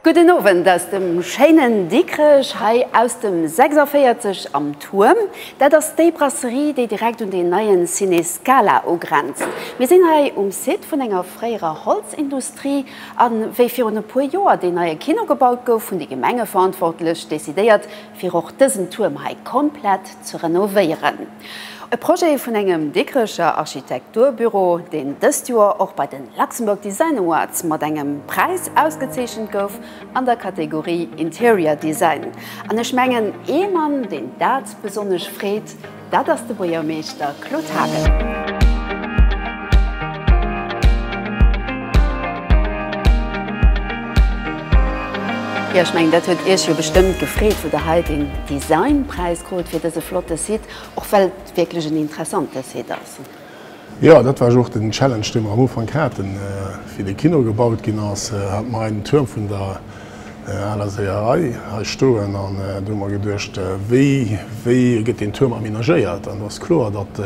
Gudden Owend aus dem schéinen Dikrech, hei aus dem 46 am Tuerm. Dat ass déi Brasserie, déi direkt un deen neien Ciné Scala ugrenzt. Mir sinn hei um Site vun enger fréierer Holzindustrie. A wéi virun e puer Joer deen neie Kino gebaut gouf, hunn déi Gemengeverantwortlech decidéiert, fir och dësen Tuerm hei komplett ze renovéieren. E Projet vun engem Dikrecher Architekturbüro, deen dëst Joer och bei de Luxembourg Design Awards mat engem Präis ausgezeechent gouf an der Kategorie Interior Design. An ech mengen, ee Mann, deen dat besonnesch freet, Dat ass de Buergermeeschter Claude Haagen. Jo, ech mengen, dat huet Iech jo bestëmmt gefreet, wou Der hei den Designpräis krut fir dëse flotte Site, och well et wierklech en interessante Site ass. Jo, dat war jo och den Challenge, dee mer am Ufank haten, wéi de Kino gebaut ginn ass. Haten mer hei den Tuerm vun der aler Séierei hei stoen an do hu mer geduecht, wéi, wéi gëtt deen Tuerm amenagéiert? An do ass kloer, datt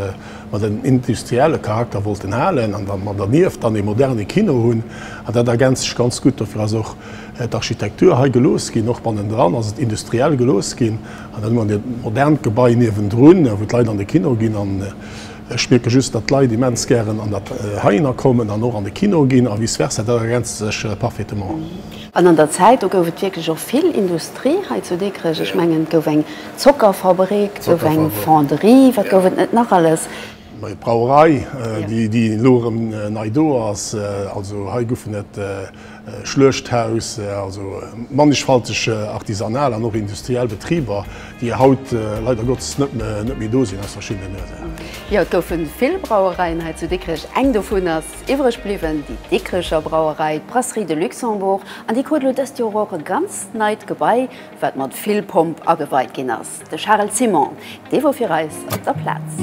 mer den industrielle Charakter wollten halen an datt mer dernieft dann ee moderne Kino hunn. An dat ergänzt sech ganz gutt. Dofir ass och d'Architektur hei gelooss ginn. Och bannendran ass et industriell gelooss ginn. An dann hu mer e modernt Gebai niewendrun, wou d'Leit an de Kino ginn. Ech mierke just, datt d'Leit immens gären an dat heihinner kommen an och an de Kino ginn a vice versa. Dat ergänzt sech parfaitement. An an der Zäit, do gouf et wierklech och vill Industrie hei zu Dikrech. Ech mengen, et gouf eng Zockerfabrik, et gouf eng Fonderie, wat gouf et net nach alles? D'Brauerei, déi elo erëm nei do ass. Also hei goufen et. Schluechthaus, also mannigfalteg artisanal an och industriell Betriber, déi haut leider Gottes net méi do sinn, aus verschiddenen Ursachen. Jo, et goufe vill Brauereien hei zu Dikrech. Eng dovun ass iwwreg bliwwen, déi Dikrecher Brauerei, d'Brasserie de Luxembourg. An déi krut elo dëst Joer och e ganz neit Gebai, wat mat vill Pomp ageweit ginn ass. De Charel Ciment, dee wor fir eis op der Plaz.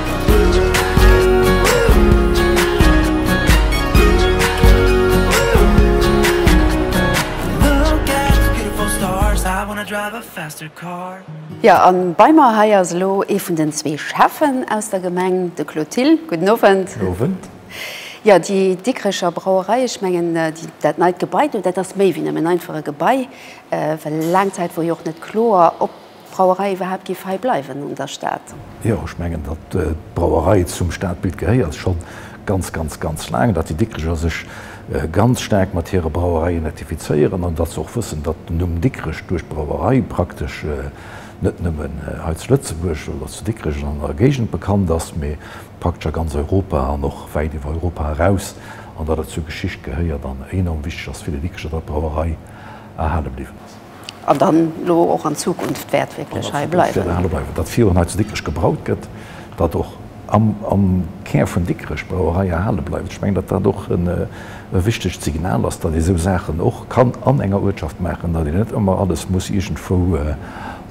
Jo, a bei mer hei ass elo ee vun den zwee Schäffen aus der Gemeng, de Claude Thill. Gudden Owend. Gudden Owend. Jo, déi Dikrecher Brauerei, ech mengen, déi, dat neit Gebai do, dat ass méi wéi nëmmen einfach e Gebai, well laang Zäit wor jo och net kloer, ob Brauerei iwwerhaapt giff hei bleiwen an der Stad. Jo, ech mengen datt d'Brauerei zum Stadbild gehéiert schon ganz ganz ganz laang, datt déi Dikricher sech ganz staark mat hire Brauereien identifizéieren an datt se och wëssen datt den Numm Dikrech duerch d'Brauerei praktesch net nëmmen hei zu Lëtzebuerg oder zu Dikrech an der Géigend bekannt ass, mee praktesch a ganz Europa an och wäit iwwer Europa eraus an datt et zur Geschicht gehéiert an enorm wichteg ass fir déi Dikricher datt d'Brauerei erhale bliwwen ass. An dann elo och an Zukunft wäert wierklech hei bleiwen. Datt virun hei zu Dikrech gebraut gëtt, datt och am Kär vun Dikrech d'Brauerei erhale bleift. Ech mengen, datt dat och e wichtegt Signal ass, datt ee esou Saachen och kann an enger Uertschaft maachen, datt een net ëmmer alles muss iergendwou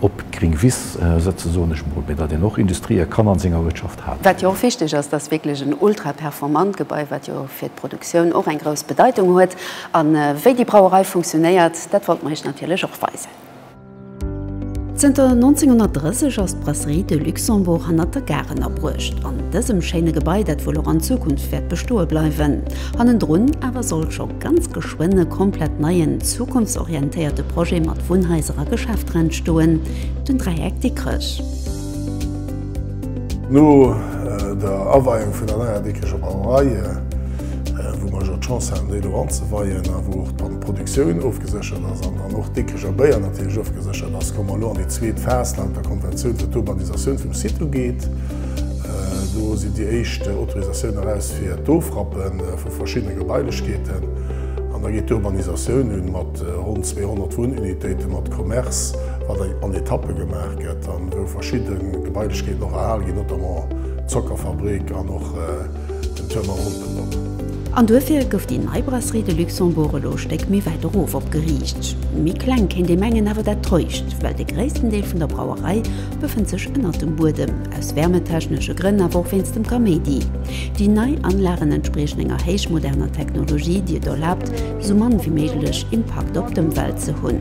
op d'gring Wiss sëtzen, soen ech emol, mee datt een och Industrië kann a senger Uertschaft halen. Wat jo och wichteg ass, datt wierklech en ultra-performant Gebai, wat jo fir d'Produktioun och eng grouss Bedeitung huet, A wéi déi Brauerei funktionéiert, dat wollt mer iech natierlech och weisen. Zënter 1930 ass d'Brasserie de Luxembourg hannert der Gare ënnerbruecht, an dësem schéine Gebai, dat wuel och an Zukunft wäert bestoe bleiwen. Hannendrun awer soll scho ganz geschwënn e komplett neien, zukunftsorientéierte Projet mat Wunnhaiser a Geschäfter entstoen, den Dräieck Dikrech. No der Aweiung vun der neier Dikkecher Brauerei, wou mer jo d'Chance haten déi elo anzeweien a wou och d'Produktioun ofgeséchert ass an dann och d'Dikkecher Béier natierlech ofgeséchert ass, komme mer elo an déi zweet Phas laut der Konventioun, wat d'Urbanisatioun vum Site ugeet. Do sinn déi éischt Autorisatioune eraus fir d'Ofrappe vu verschiddene Gebailechkeeten an da geet d'Urbanisatioun un mat ronn 200 Wunnunitéite mat Commerce, wat an Etappe gemaach. gëtt an wou verschidde Gebailechkeeten och erhal ginn, notamment d'Zockerfabrik an och den Tuerm am Humpen-Dock. An duerfir gouf déi nei Brasserie de Luxembourg elo e Stéck méi wäit erof opgeriicht. Méi kleng kéint ee mengen, awer dat täuscht, well de gréissten Deel vun der Brauerei befënnt sech ënnert dem Buedem, aus wärmetechnesche Grënn, awer och wéinst dem Kaméidi. Déi nei Anlagen entspriechen enger héichmoderner Technologie, déi et erlaabt, esou mann wéi méiglech Impakt op d'Ëmwelt ze hunn.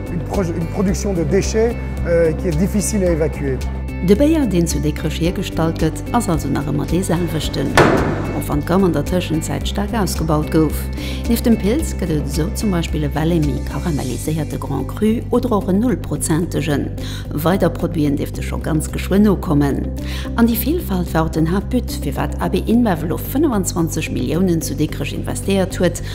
Une production de déchets qui est difficile à évacuer. De Béier, deen zu Dikrech hiergestallt gëtt, ass also nach ëmmer dee selwechten, och wann d'Gamm an der Tëschenzäit staark ausgebaut gouf. Nieft dem Pils gëtt et esou zum Beispill e Vel'Emi karamelliséierte Grand Cru oder och en Nullprozentegen. Weider Produiten dierfte scho ganz geschwënn nokommen. An déi Vilfalt war och den Haaptbut, firwat AB InBev elo 25 Milliounen zu Dikrech investéiert huet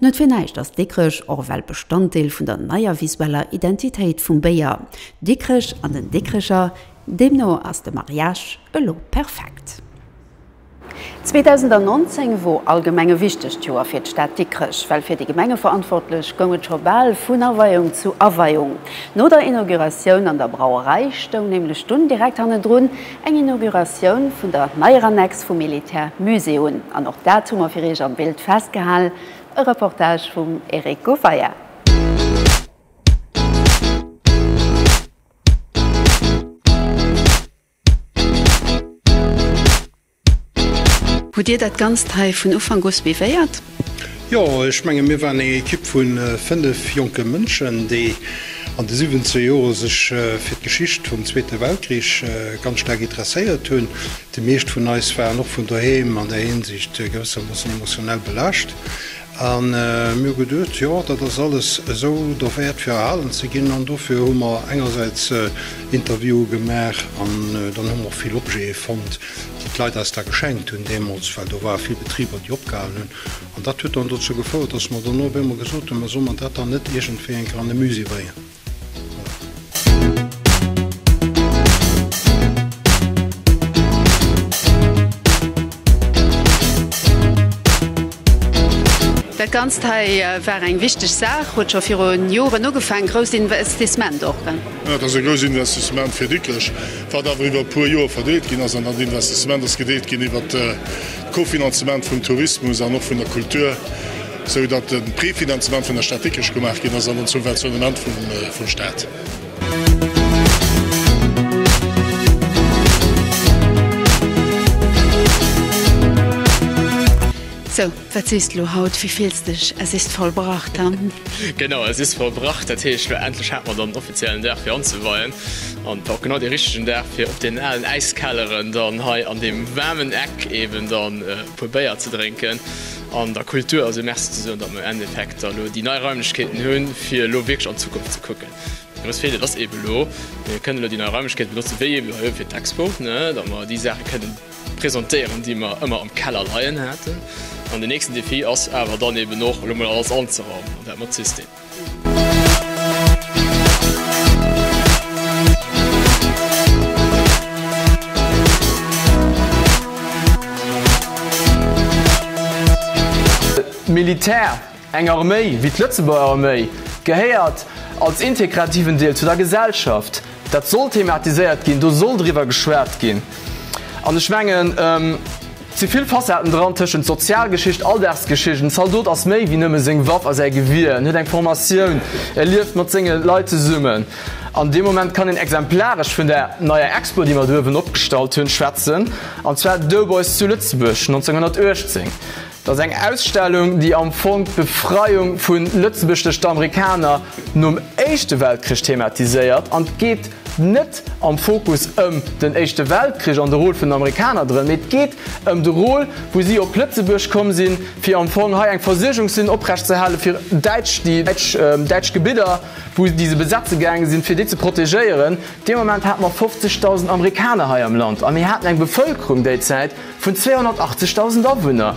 Net fir näischt ass Dikrech och ewell Bestanddeel vun der neier visueller Identitéit vum Béier Dikrech an den Dikrecher. Deemno ass de Mariage elo perfekt. 2019 wor allgemeng e wichtegt Joer fir d'Stad Dikrech, well fir déi Gemengeverantwortlech goung et scho bal vun Aweiung zu Aweiung. No der Inauguratioun an der Brauerei stoung nämlech dunn direkt hannendrun Eng Inauguratioun vun der neier Annex vum Militär Musée un. An och dat hu mer fir Iech am Bild festgehal, e Reportage vum Eric Gouffayer. Hutt Dir dat Ganzt hei vun Ufank u suivéiert? Jo, ech mengen, mir waren eng Ekipp vu fënnef jonke Mënschen, déi an de 17 Jore sech fir d'Geschicht vum Zweete Weltkrich ganz staark interesséiert hunn. Déi meescht vun eis waren och vun doheem an där Hinsicht gewëssermoossen emotionell belaascht. A mir hu geduecht, jo, dat ass alles esou derwäert, fir erhalen ze ginn. An dofir hu mer engersäits Interviewe gemaach an dann hu mer och vill Objete fonnt, déi d'Leit eis da geschenkt hunn deemools, well do ware vill Betriber, déi opgehalen hunn. An dat huet dann dozou gefouert, dass mer dann och op eemol gesot hunn, Mä solle mer dat dann net iergendwéi enker an e Musée bréngen? Dat Ganzt hei war eng wichteg Saach, huet scho virun Joren ugefaangen. Grousst Investissement och. Et ass e grousst Investissement fir Dikrech, Wat awer iwwer e puer Joer verdeelt ginn ass, an dat Investissement ass gedeelt ginn iwwer d'Kofinanzement vum Tourismus an och vun der Kultur, esou datt de Prefinanzement vun der Stad Dikrech gemaach ginn ass an en Subventionnement vum Staat. Wat sees de lo haut? Wéi fills de dech? Es ist vollbracht, hm? Genau, es ist vollbracht. Dat heescht, lo endlech hate mer dann den offiziellen Dag fir anzeweien. An et war och genau dee richtegen Dag fir op deenen alen Äiskelleren dann hei an deem waarmen Eck eben dann e puer Béier ze drénken an der Kultur also Merci ze soen, datt mer am Endeffekt da lo déi nei Raimlechkeeten hunn, fir elo wierklech an d'Zukunft ze kucken. Wat eis feelt, dat ass eben elo, mir kënnen elo déi nei Raimlechkeete benotzen, wéi eben hei fir d'Expo, ne, datt mer déi Saache kënnen, presentéieren, déi mer ëmmer am Keller leien haten. An den nächsten Defi ass awer dann eben och, elo mol alles anzeraumen, an dat mat System. D'Militär! Eng Arméi, wéi d'Lëtzebuerger Arméi, gehéiert als integrativen Deel zu der Gesellschaft. Dat soll thematiséiert ginn, do soll driwwer geschwat ginn. An ech mengen, et si vill Facetten dran, tëschent Sozialgeschicht, Alldagsgeschicht. En Zaldot ass méi wéi nëmme seng Waff a säi Gewier. En huet eng Formatioun, e lieft mat senge Leit zesummen. An dee Moment kann een exemplaresch vun där neier Expo, déi mer do uewen opgestallt hunn, schwätzen, an zwar d'Doughboys zu Lëtzebuerg 1918. Et ass eng Ausstellung, déi am Fong d'Befreiung vu Lëtzebuerg duerch d'Amerikaner nom Éischte Weltkrich thematiséiert. An et geet net am Fokus ëm den Éischte Weltkrich an de Rôle vun den Amerikaner drënn, mee et geet ëm de Rôle, wou si op Lëtzebuerg komm sinn, fir am Fong hei eng Versuergungslinn oprecht ze halen, fir Däitsch, déi däitsch Gebidder, wou, déi se besetze gaange sinn, fir déi ze protegéieren. Dee Moment hate mer 50.000 Amerikaner hei am Land a mir haten eng Bevëlkerung déizäit, Vun 280.000 Awunner.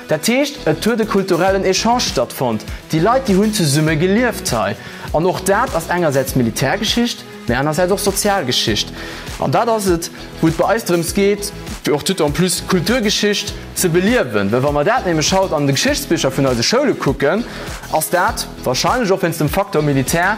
Dat heescht, et huet e kulturellen Echange stattfonnt, déi Leit, déi hunn zesumme gelieft hei. An och dat ass engersäits Militärgeschicht, mä anersäits och Sozialgeschicht. An dat ass et, wou et bei eis drëms geet, fir och tout en plus d'Kulturgeschicht ze beliewen, well wa mer dat nämlech haut an de Geschichtsbicher vun eise Schoule kucken, ass dat, wahrscheinlech och wéinst dem Faktor Militär,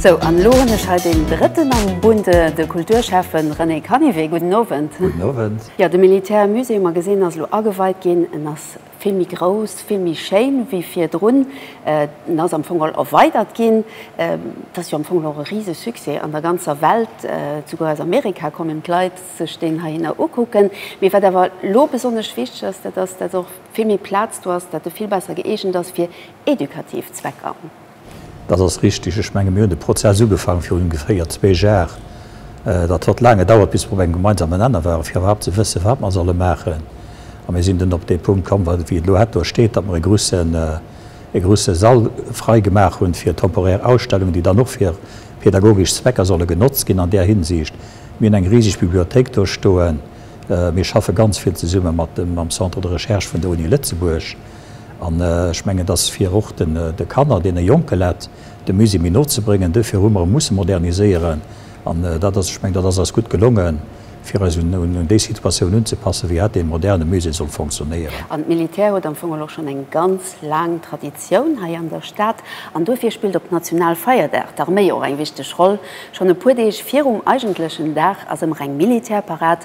Sou, an elo hunn ech hei deen Drëtten am Bunde, de Kulturschäffen René Canivet. Gudden Owend. Gudden Owend. Jo, de Militärmusée, hu mer gesinn, ass elo ageweit ginn. En ass vill méi grouss, vill méi schéin wéi virdrun, en ass am Fong erweidert ginn. Et ass jo am Fong och e Risesuccès an der ganzer Welt, souguer aus Amerika kommen d'Leit sech deen heihinner ukucken. Mee wat awer elo besonnesch wichteg ass, dat ass, datt och vill méi Plaz do ass, datt e vill besser gëeegent ass fir edukativ Zwecker. Dat ass richtig. Ech menge mir hunn de Prozess ugefaange virun ongeféier zwee Jar. Dat huet laang gedauert, bis mir op engem gemeinsamen Nenner waren, fir iwwerhaapt ze wëssen, wat mir solle maachen. A mir sinn dunn op dee Punkt komm, wéi et elo het do steet, datt mir e grusse Sall frei gemaach hunn fir temporär Ausstellungen, déi dann och fir pädagogesch Zwecker solle genotzt ginn. An där Hinsicht, mir hunn eng riseg Bibliothéik do stoen. Mir schaffe ganz vill zesumme mam Centre de Recherche vun der Uni Lëtzebuerg. An ech mengen, et ass fir och de Kanner, deene jonke Leit, de Musée méi no ze bréngen. Duerfir hu mer e musse moderniséieren. An dat ass, ech mengen, dat ass eis gutt gelongen, fir eis un déi Situatioun unzepassen, wéi hat ee moderne Musée soll fonctionnéieren. An d'Militär huet am Fong elo schonn eng ganz laang Traditioun hei an der Stad. An duerfir spillt op Nationalfeierdag d'Arméi och eng wichteg Roll. Schonn e puer Deeg virum eigentlechen Dag ass ëmmer eng Militärparad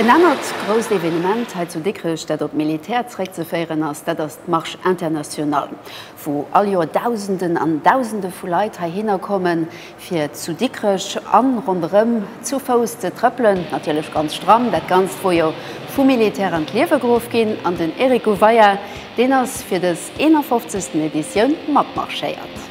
En anert grousst Evenement hei zu Dikrech, dat op d'Militär zeréckzeféieren ass, dat ass d'Marche internationale. wou all Joer Dausenden an Dausende vu Leit heihinner kommen, fir zu Dikrech a ronderëm zu Fouss ze trëppelen, natierlech ganz stramm. Dat Ganzt wor jo vu Militär an d'Liewe geruff ginn an den Eric Gouveia, deen ass fir dës 51. Editioun matmarschéiert.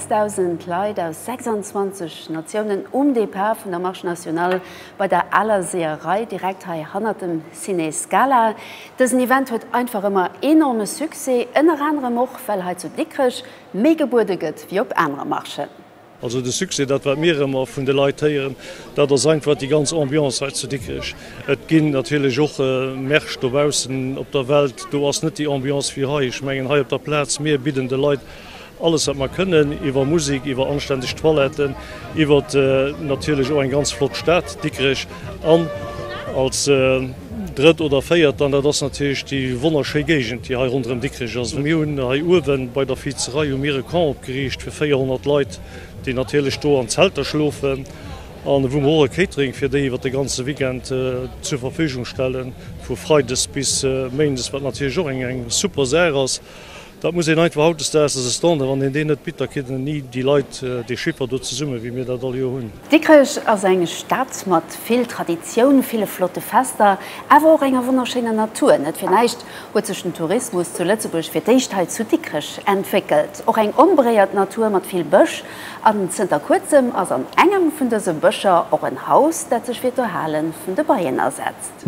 6000 Leit aus 26 Natiounen um Depart vun der Marche Nationale bei der Aler Seeërei, direkt hei hannert dem Ciné Scala. Dësen Event huet einfach ëmmer enorme Succès, ënner anerem och, well hei zu Dikrech méi gebuede gëtt wéi op anere Marchen. Also de Succès, dat wat mir ëmmer vun de Leit héieren, dat ass einfach déi ganz Ambiance hei zu Dikrech. Et ginn natierlech och Märsch dobaussen op der Welt, do ass net déi Ambiance wéi hei. Ech mengen hei op der Plaz, mir bidden de Leit Alles wat mer kënnen, iwwer Musik, iwwer anständeg Toiletten, iwwer natierlech och eng ganz flott Stad Dikrech an als drëtt oder véiert dann, dat ass natierlech déi wonnerschéi Géigend, déi hei ronderëm Dikrech ass. Mir hunn hei uewe bei der Viizerei hu mir e Camp opgeriicht fir 400 Leit, déi natierlech do an Zelter schlofen an wou mer och e Catering fir déi iwwer de ganze Weekend zur Verfügung stellen, vu freides bis méindes, wat natierlech och eng super Saach ass. Dat muss een einfach hautdesdaags, ass e Standard, wann een deen net bitt, da kritt een ni déi Leit, déi Schipper do zesummen, wéi mir dat all Joer hunn. Dikrech ass eng Stad mat vill Traditioun, ville flotte Fester, awer och enger wonnerschéiner Natur. Net fir näischt huet sech den Tourismus zu Lëtzebuerg fir d'éischt hei zu Dikrech entwéckelt. Och eng onberéiert Natur mat vill Bësch an zënter kuerzem ass an engem vun dëse Bëscher och en Haus, dat sech fir d'Erhale vun de Beien asetzt. Podcast.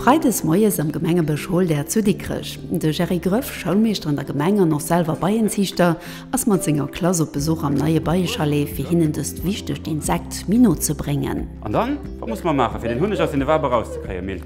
Freides moies am Gemengebësch Holder zu Dikrech. De Gerry Gröff, Schoulmeeschter an der Gemeng an och selwer Beienziichter, ass mat senger Klass op Besuch am neie Beiechalet, fir hinnen dëst wichtegt Insekt méi no ze bréngen. An dann, wat musse mer maachen, fir den Hunneg aus den Wabe erauszekréien? Mir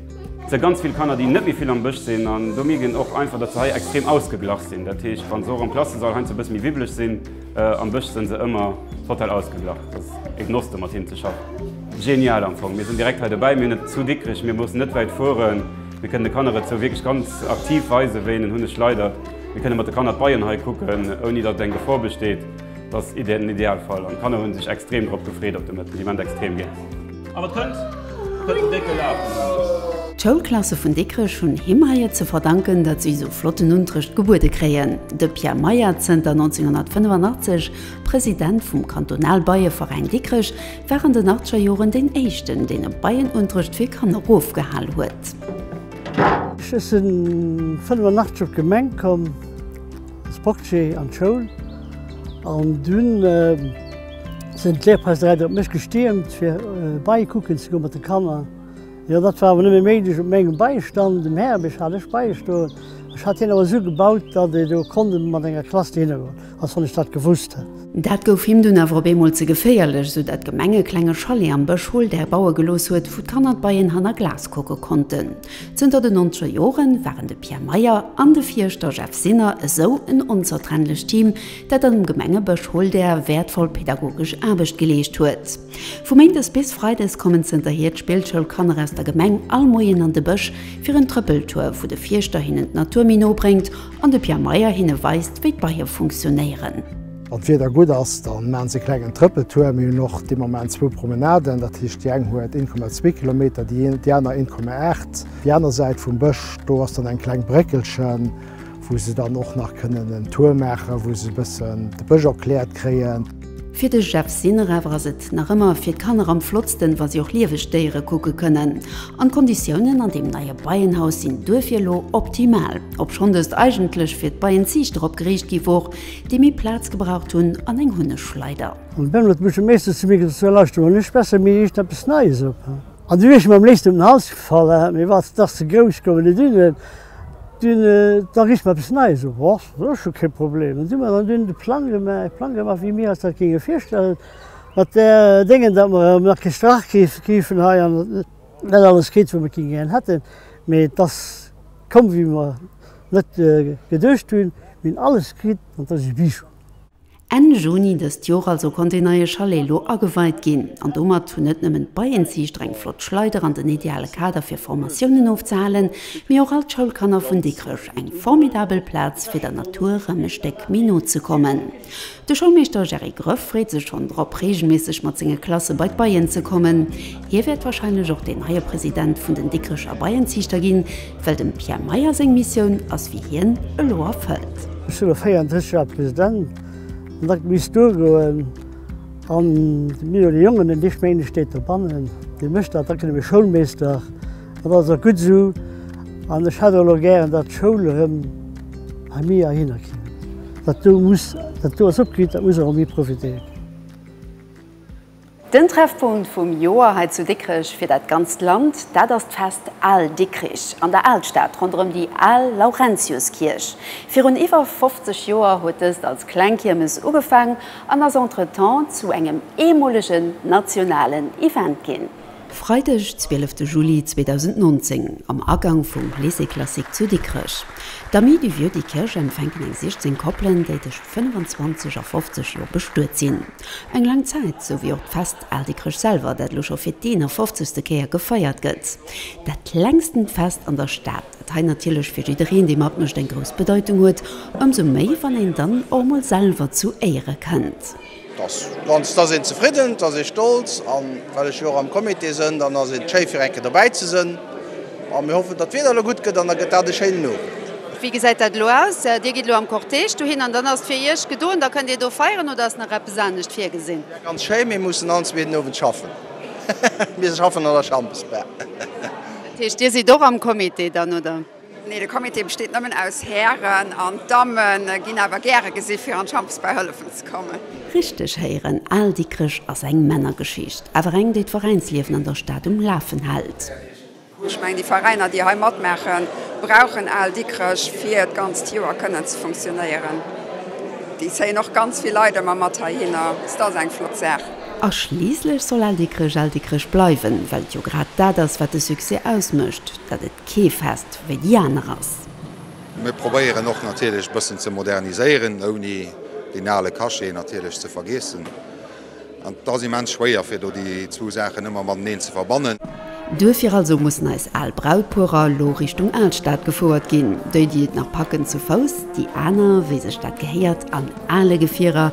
si ganz vill Kanner, déi net méi vill am Bësch sinn, an do mierkt een och einfach, datt se hei extrem ausgeglach sinn. Dat heescht, wa se och am Klassesall heiansdo e bësse méi wibbeleg sinn, Am Bësch sen se ëmmer total ausgeglach, et ass ee Genoss mat hinnen ze schaffen. Genial am Fong, mir sen direkt hei dobäi, mir net zu Dikrech, mir mussen net wäit fueren, mir kënnen de Kanner et sou wierklech ganz aktiv weisen, wéi een en Hunneg leidert, mir kënnen mat de Kanner d'Beien hei kucken, ouni datt eng Gefor besteet. Et ass den Idealfall an d'Kanner hu sech extrem drop gefreet op de Mëtten, déi Ment extrem gär. An et kënnt den décke Laf! D'Schoulklasse vun Dikrech hunn him hei et ze verdanken, datt si esou flotten Unterrecht gebuede kréien. De Pierre Meyer, zënter 1985 President vum Kantonalbeieveräin Dikrech, war an den achtzeger Joren deen éischten, deen e Beienunterrecht fir Kanner ofgehal huet. Ech sinn 1985 op d'Gemeng komm als Portier an d'Schoul an dunn. Sinn d'Lehrpeistereien op mech gestiermt, fir beikucken ze goen mat de Kanner. Jo, dat war awer nëmme méiglech op mengem Beistand. Dem Herbisch hat ech beigestoen. Ech hat hien awer esou gebaut, datt ee do konnt mat enger Klass dohinner goen, als wann ech dat gewusst hätt. Dat gouf him dunn awer op eemol ze geféierlech, esou datt d'Gemeng e klenge Chalet am Bësch Holdair baue gelooss huet, wou d'Kanner d'Beien hanner Glas kucke konnten. Zënter den nonzeger Jore waren de Pierre Meyer an de Fierschter Jeff Sinner esou en onzertrennlecht Team, dat an dem Gemengebësch Holdär wäertvoll pedagogesch Aarbecht geleescht huet. Vu méindes bis freides kommen zënterhier d'Spillschoulkanner aus der Gemeng all Moien an de Bësch, fir en Trëppeltour, wou de Fierschter hinnen d'Natur méi no bréngt an de Pierre Meyer hinne weist, wéi d'Beier funktionéieren. Wann d'Wieder gutt ass, da maachen se e klengen Trëppeltour. Mir hunn och de Moment zwou Promenaden, dat heescht déi eng huet 1,2 Kilometer, déi aner 1,8. Déi aner Säit vum Bësch, do ass dann eng kleng Bréckelchen, wou se dann och nach kënnen en Tour maachen, wou se e bëssen de Bësch erkläert kréien. Fir de Jeff Sinner awer ass et nach ëmmer fir d'Kanner am flottsten, wa si och lieweg Déiere kucke kënnen. An d'Konditiounen an deem neie Beienhaus sinn duerfir elo optimal. Obschonn dëst eigentlech fir d'Beienziichter opgeriicht gi wor, Déi méi Plaz gebraucht hunn an eng Hunneschleider. An d'Bemmel huet mech e Meeschtens ze mir gesot, Sou, lauschter mol, ech besse mir eischt eppes Neies op. An du wier ech mer am léifsten ëm den Hals gefall, hat mir wat, dach ze grouss gouf et net un, dun, da rich mer eppes Neies op. Och, dat ass scho kee Problem. An du mer dann dunn de Plang gemaach, Plang gemaach, wéi mir eis dat géinge virstellen, mat där Déngen, datt mer erëm nach kee Strach kriff, kriifen hei an net alles kritt, wat mer gären hätten, mee et ass komm, wéi mer Net geduecht hunn, mee alles kritt, an et ass e Bijou. Enn Juni dëst Joer also konnt deen neie Chalet elo ageweit ginn. An domat hunn net nëmmen d'Beienziichter eng flott Schleider an den ideale Kader fir Formatiounen ofzehalen, mee och all d'Schoulkanner vun Dikrech eng formidabel Plaz fir der Natur rëm e Stéck méi no ze kommen. De Schoulmeeschter Jerry Gröff freet sech schonn drop, reegelméisseg mat senge Klasse bei d'Beien ze kommen. Hie wäert warscheinlech och deen neie President vun den Dikrecher Beienziichter ginn, well dem Pierre Meyer seng Missioun ass wéi hien elo erfëllt. Ech si lo 34 Joer President an da misst duergoen an de Milo, de Jongen, deen éischt Méindeg steet dobannen, dee mécht dat, da gëtt e mir Schoulmeeschter Dat ass och gutt esou. An ech hätt elo gären, datt d'Schoul erëm hei méi erhinner kéim. Dat do muss, dat do ass opgeriicht, dat muss och méi profitéiert ginn. Den Treffpunkt vum Joer hei zu Dikrech fir dat ganzt Land, dat ass d'Fest Al Dikrich an der Alstad ronderëm déi al Laurentiuskierch. Virun iwwer 50 Joer huet dëst als kleng Kiermes ugefaang an ass entretemps zu engem eemolegen nationalen Event ginn. Freideg 12 de Juli 2019 am Agang vum Lycée Classique zu Dikrech. D'Amis du Vieux Dikerch empfänken eng 16 Koppelen, déi tëscht 25 a 50 Joer bestuet sinn. Eng laang Zäit, sou wéi och d'Fest Al Dikrech selwer, dat elo scho fir d'51. Kéier gefeiert gëtt. Dat längstent Fest an der Stad, dat hei natierlech fir jiddereen, dee matmécht, eng grouss Bedeitung huet, ëmsou méi, wann een dann och mol selwer zu Éiere kënnt. Dass ganz, dass een zefridden, dass ee stolz, a well ech jo och am Comité sënn, dann ass et schéi fir eng Kéier dobäi ze sënn. A mir hoffen, datt d'Wieder elo gutt gëtt an da gëtt dat e schéinen Owend. Wéi gesäit dat elo aus? Dir gitt elo am Cortège dohin an dann ass et fir iech gedoen, da kënnt dir do feieren oder ass nach eppes anescht virgesinn? Ganz schéi, mir mussen all zweeten Owend schaffen. Mir schaffen an der Chambersbar. Dat heescht, dir sidd och am Comité dann, oder? Nee, de Comité besteet nëmmen aus Hären an d'Dammen ginn awer gäre gesi fir an d'Champs bei hëllefen ze kommen. Richteg héieren, Al Dikrech ass eng Männergeschicht, awer eng déi d'Veräinsliewen an der Stad um Lafen hält. Ech mengen déi Veräiner déi hei matmaachen brauchen Al Dikrech fir d'ganzt Joer kënnen ze funktionéieren. Déi zéien och ganz vill Leit ëmmer mat heihinner, et ass eng flott Saach. A schliisslech soll Al Dikrech Al Dikrech bleiwen, well et jo grad dat ass wat de Succès ausmécht, dat et. Kee Fest wéi déi aner ass. Mir probéieren och natierlech e bëssen ze moderniséieren, ouni deen ale Cachet natierlech ze vergeessen. An et ass immens schwéier, fir do déi zwou Saachen ëmmer mateneen ze verbannen. Duerfir also mussen eis al Brautpuerer elo Richtung Alstad gefouert ginn. Déi, déi et nach packen, zu Fouss, déi aner, wéi sech dat gehéiert, an ale Gefierer,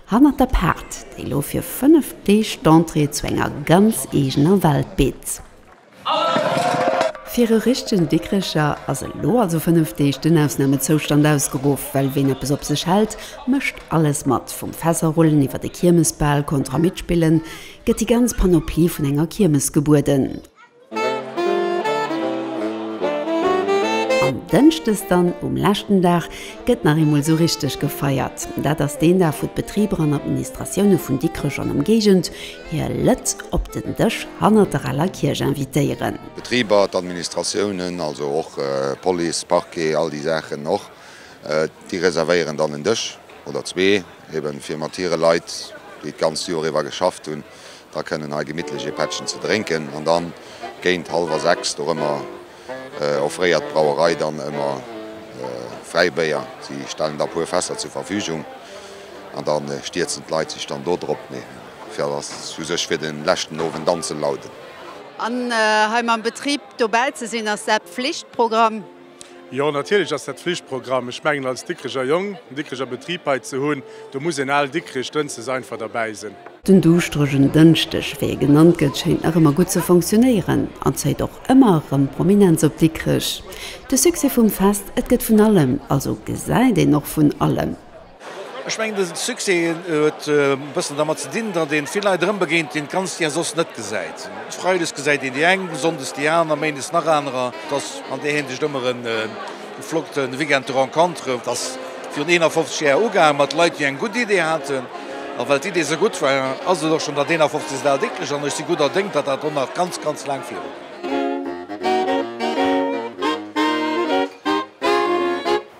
Hannert der Paart, déi lo fir 5 Deeg d'Entrée zu enger ganz eegener Welt bitt. Fir e richtegen Dikricher ass elo also 5 Deeg den Ausnamezoustand ausgeruff, well ween eppes op sech hält, mécht alles mat, vum Fässer rullen iwwer e Kiermesbal, Kontra mitspillen, gëtt déi ganz Panoplie vun enger Kiermes gebueden. An Dënschdes dann, um leschten Dag, gëtt nach eemol esou richteg gefeiert. Dat ass deen Dag, wou d'Betriber an Administratioune vun Dikrech an Ëmgéigend hir Lëtt op den Dësch hannert der aler Kierch invitéieren. D'Betriber, d'Administratiounen, also och Police, Parquet, all déi Saachen och, déi reservéieren dann en Dësch oder zwee, ebe fir mat hire Leit, déi d'ganzt Joer iwwer geschafft hunn, da kënnen hei gemittlech ee Pättchen ze drénken an dann géint hallwer 6 dorëmmer offréiert d'Brauerei dann ëmmer Fräibéier. Si stellen da puer Fässer zur Verfügung an dann stierzen d'Leit sech dann do drop. Mee fir dass u sech fir den leschten Owend dann ze lauden. An hei mam Betrib dobäi ze sinn ass dat Pflichtprogramm. Jo, natierlech ass dat Flichtprogramm. Ech mengen, als Dikkreger Jong en Dikkreger Betrib hei ze hunn, do muss een al Dikkrich dënsdes einfach derbäi sinn. Den duuschteregen Dënschdeg, wéi e genannt gëtt, schéint nach ëmmer gutt ze fonctionnéieren an zéit och ëmmer erëm Prominenz op Dikkrech. De Succès vum Fest, et gëtt vun allem, also gesäit een och vun allem. Ech mengen de Succès huet e bëssen dermat ze dinn, datt ee vill Leit erëm begéint, déi een d'ganzt Jar soss net gesäit. Freides gesäit een déi eng, sonndes déi aner, méindes nach anerer. Et ass an där Hinsicht ëmmer e flotte Weekend de rencontre. Et ass virun 51 Jar ugaange mat Leit, déi eng gutt Idee haten. A well d'Idee esou gutt war, ass et och schonn dat 51. Al décklech an ech si gudder Déng, datt dat och nach ganz, ganz laang virut.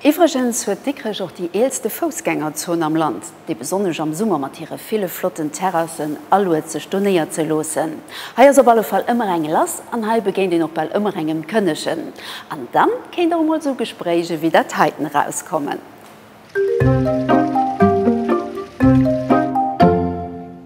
Iwwregens huet Dikrech och déi eelste Foussgängerzon am Land, déi besonnesch am Summer mat hire ville flotten Terrassen aluet sech do néierzeloossen. Hei ass op alle Fall ëmmer eng lass an hei begéint een och bal ëmmer engem Kënnegen. An dann kéint och emol sou Gespréich ewéi dat heiten erauskommen.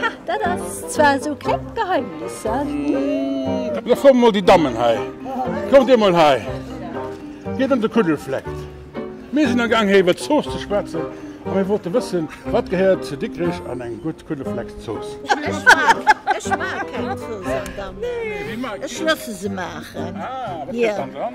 Ha, dat ass zwar esou klengt Geheimnis, hein? Lo kommen mol déi Dammen hei. Kommt dir mol hei. Gitt an de Kuddelfleck. Mir sinn amgaang hei iwwer d'Zooss ze schwätzen a mir wollten wëssen, wat gehéiert zu Dikrech an eng gutt Kuddelfleckzooss? Ech mag, ech mag keng Zooss an Dammen. Ech loosse se maachen. Ah, wat gëtt dann dran?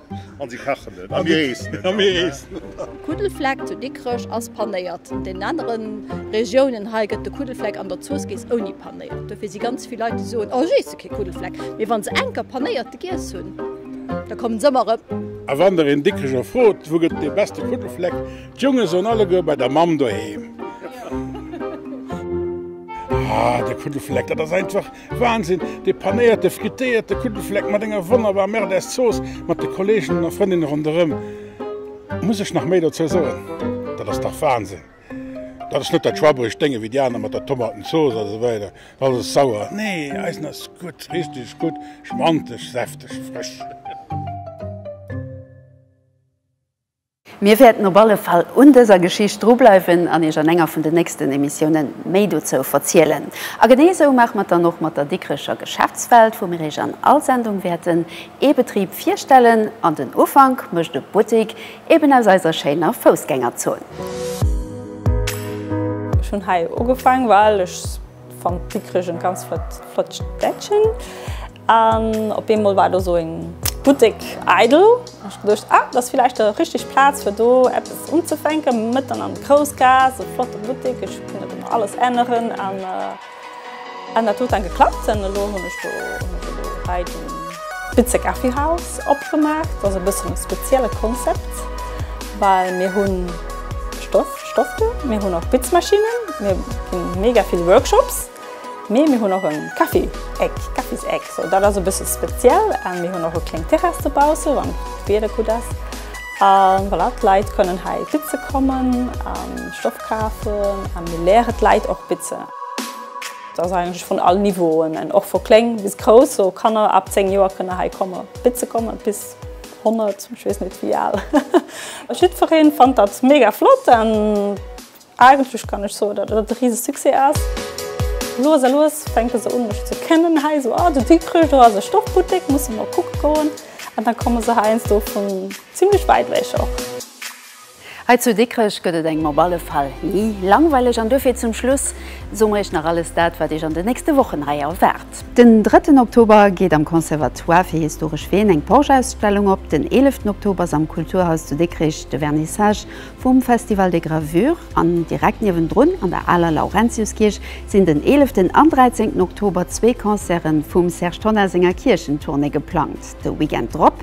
An si kachen et. A mir eessen et. A mir eessen et. Kuddelfleck zu Dikrech ass panéiert. An deenen anere Regiounen hei gëtt de Kuddelfleck an der Zooss giess ouni panéiert. Dofir si ganz vill Leit déi soen, oh ech eesse kee Kuddelfleck. Mee wa se enker panéierte giess hunn, da kommen se ëmmer erëm. A wann der een Dikrecher frot, wou gëtt et dee beste Kuddelfleck, d'Jonge soen alleguer, bei der Mamm doheem. Ah, de Kuddelfleck, dat ass einfach. Wahnsinn! Dee panéierte, frittéierte Kuttelfleck mat enger wonnerbar Merdes Zooss mat de Kolleginnen a Frëndinnen ronderëm. Muss ech nach méi dozou soen? Dat ass dach Wahnsinn! Dat ass net dat schwabberecht Dénge wéi déi aner mat der Tomatenzooss a sou weider. Alles ass sauer. Nee, eisen ass gutt, richteg gutt, schmantesch, säfteg, frësch. Mir wäerten op alle Fall un dëser Geschicht dru bleiwen an Iech an enger vun den nächsten Emissiounen méi dozou verzielen. A genee esou maache mer et dann och mat der Dikrecher Geschäftswelt, wou mir Iech an all Sendung wäerten ee Betrib virstellen an den Ufank mécht e Buttik eben aus eiser schéiner Foussgängerzon. Ech hunn hei ugefaang well ech Fannt si krégen ganz flott flott Städtchen an op eemol war do sou eng Buttek eidel an ech geduecht ah dat ass villäicht der richteg Plaz fir do eppes unzefänken, mëtten an der Groussgaass e flotte Buttek, ech hunn dat ëmmer alles änneren an an dat huet dann geklappt an elo hunn ech do hunn ech elo hei de Bitze Coffee House opgemaach, dat ass e bëssen e spezielle Konzept well mir hu Stoff. Stoffe, mir hunn och Bitzmaschinnen, mir ginn mega vill Workshops, mee mir hunn och e Kaffi-Eck, Kaffiseck, sou dat ass e bësse speziell an mir hunn och e kleng Terrass dobausse wann d'Wieder gutt ass an voilà, d'Leit kënnen hei bitze kommen a Stoff kafen a mir leere d'Leit och bitzen. Et ass eigentlech vun all Niveauen, och vu kléng bis grouss, sou Kanner ab 10 Joer kënne hei komme bitze kommen bis. 100, ech wees net wéi aal. Jiddfereen fannt datt mega flott an eigentlech kann ech soen datt et e riese Succès ass. Lues a lues fänke se un mech ze kennen hei esou, ah den Dikrich, do ass e Stoffbuttek, musse mer kucke goen. An da komme se heiansdo vun zimmlech wäit ewech och. Hei zu Dikrech gëtt et engem op alle Fall ni langweileg an duerfir zum Schluss soe mer iech nach alles dat, wat iech an den nächste Wochen hei erwaart. Den drëtten Oktober geet am Conservatoire fir historesch Ween eng Porsche-Ausstellung op. Den eeleften Oktober ass am Kulturhaus zu Dikrech de Vernissage vum Festival des gravures an direkt niewendrun an der aler Laurentiuskierch sinn den eeleften an dräizéngten Oktober zwee Concerte vum Serge Tonnar senger Kierchentournée geplangt. De Weekend drop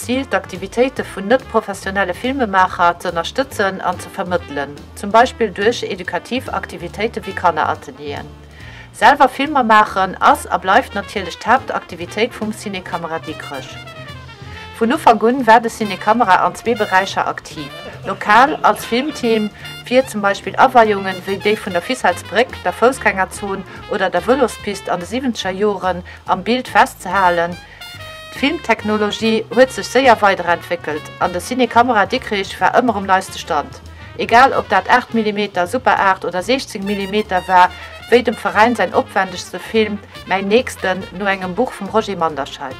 Zil, d'Aktivitéite vun net-professionelle Filmemaacher z'ënnerstëtzen an ze vermëttelen, zum Beispill duerch edukativ Aktivitéite wéi Kanneratelieren. Selwer Filmer maachen ass a bleift natierlech d'Haaptaktivitéit vum Ciné Camera Dikrech. Vun Ufank un war de Ciné Camera an zwee Beräicher aktiv, lokal als Filmteam fir zum Beispill Aweiungen wéi déi vun der Ficelles Bréck, der Foussgängerzon oder der Vëlospist an de siwwenzeger Joren am Bild festzehalen, D'Filmtechnologie huet sech séier weiderentwéckelt an de Ciné Camera Dikrich war ëmmer um neiste Stand. Egal ob dat 8 Millimeter, Super 8 oder 16 Millimeter war, wéi dem Veräin säin opwändegste Film Mäin Nächsten no engem Buch vum Roger Manderscheid.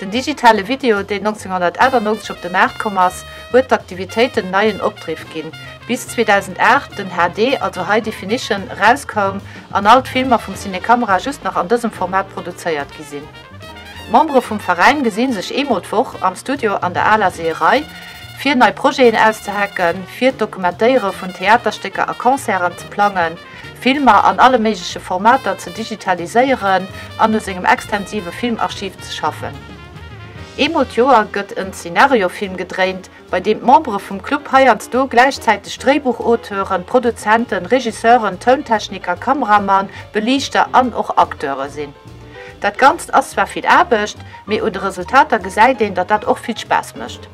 Den digitale Video, deen 1998 op de Maart komm ass, huet d'Aktivitéiten neien Opdriff ginn, Bis 2008 den HD, also High Definition, erauskoum an all d'Filmer vum Cinecamera just nach an dësem Format produzéiert gi sinn. D'Membere vum Veräin gesi sech eemol d'Woch am Studio an der aler Seeërei, fir nei Projeten auszehacken, fir d'Dokumentéiere vun Theaterstécker a Concerten ze plangen, Filmer an alle méigleche Formater ze digitaliséieren an u sengem extensive Filmarchiv ze schaffen. Eemol d'Joer gëtt en Zenariofilm gedréint, bei deem d'Membere vum Club heiansdo gläichzäiteg Dréibuchauteure, Produzenten, Regisseuren, Tountechniker, Kameramann, Beliichter an och Acteure sinn. Dat Ganzt ass zwar vill Aarbecht, mee un de Resultater gesäit een, datt dat och vill Spaass mécht.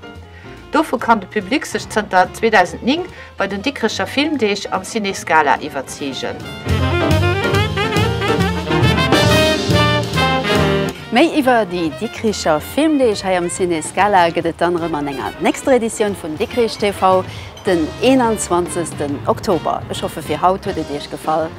Dovu kann de Public sech zënter 2009 Bei den Dikrecher Filmdeeg am Ciné Scala iwwerzeegen. Méi iwwer déi Dikricher Filmdeeg hei am Ciné Scala gëtt et dann erëm an enger nächster Editioun vun Dikrich TV den 21 Oktober. Ech hoffe fir haut huet et Iech gefall.